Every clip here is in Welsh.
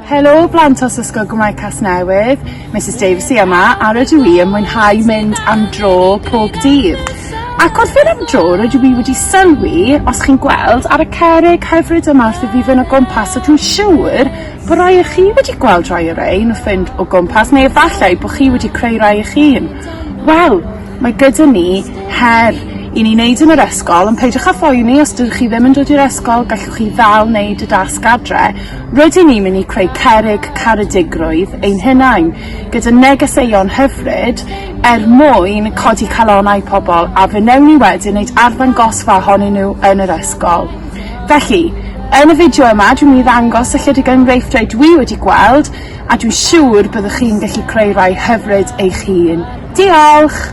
Helo blant os Ysgol Gymraeg Casnewydd, Misus Davies i yma a rydw i yn mwynhau mynd am dro pob dydd. Ac wrth fynd am dro rydw i wedi sylwi, os chi'n gweld, ar y cerrig hyfryd yma wrth i fi fynd o gwmpas a dwi'n siŵr bod rhai o chi wedi gweld rhai o rein wrth fynd o gwmpas neu efallai bod chi wedi creu rhai eich hun. Wel, mae gyda ni her i ni wneud yn yr ysgol ond peidiwch â phoeni os dydych chi ddim yn dod i'r ysgol gallwch chi ddal wneud y dasg adre. Rydyn ni'n mynd i creu cerrig caredigrwydd ein hunain, gyda negeseuon hyfryd, er mwyn codi calonnau pobl, a fe wnewn ni wedyn wneud arddangosfa ohonyn nhw yn yr ysgol. Felly, yn y fideo yma, dwi'n mynd i ddangos ychydig enghreifftiau dwi wedi gweld, a dwi'n siŵr byddwch chi'n gallu creu rhai hyfryd eich hun. Diolch!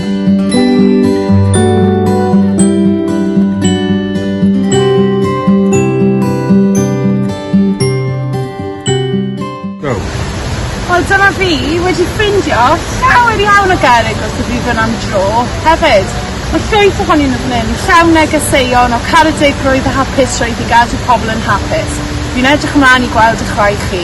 Wel dyma fi wedi ffindio llawer iawn o gerrig wrth y bydd am dro hefyd. Mae llwyth ohoni nhw fan hyn, llawn negeseuon o caredigrwydd a hapus roedd i gadw pobl yn hapus. Fi'n edrych ymlaen i gweld y chwaith chi.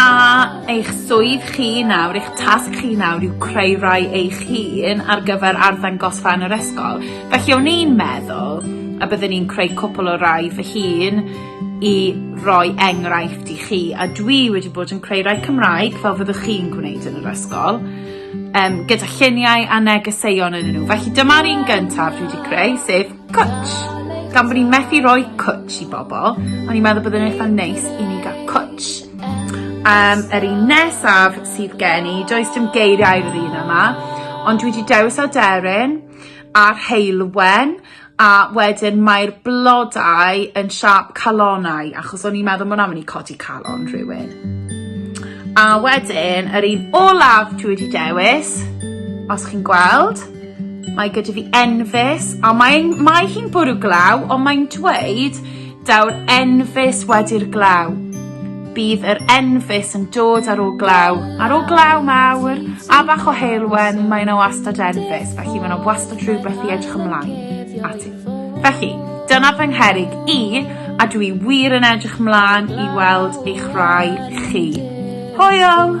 A eich swydd chi nawr, eich tasg chi nawr yw creu rai eich hun ar gyfer arddangosfa yn yr ysgol. Felly o'n i'n meddwl y byddwn i'n creu cwpl o rai fy hun i roi enghraifft i chi a dwi wedi bod yn creu rai Cymraeg fel fyddwch chi'n gwneud yn yr ysgol um, gyda lluniau a negeseuon yn nhw. Felly dyma'r un gyntaf dwi wedi creu, sef Cwtsh! Gan fod ni'n methu rhoi cwtsh i bobl, o'n i'n meddwl byddai'n eitha neis i ni gael cwtsh. Um, yr un nesaf sydd gen i, does dim geiriau i'r un yma, ond dwi wedi dewis aderyn a'r heilwen a wedyn mae'r blodau yn siap calonau achos o'n i'n meddwl mwyn am yn i codi calon rhywun. A wedyn, yr un olaf dwi wedi dewis, os chi'n gweld, Mae gyda fi enfys a mae'n mae hi'n bwrw glaw ond mae'n dweud daw'r enfys wedi'r glaw. Bydd yr enfys yn dod ar ôl glaw. Ar ôl glaw mawr a bach o heulwen mae yna wastad enfys felly mae yna wastad rhywbeth i edrych ymlaen ati. Felly, dyna fy ngherig i a dwi wir yn edrych mlaen i weld eich rhai chi. Hwyl!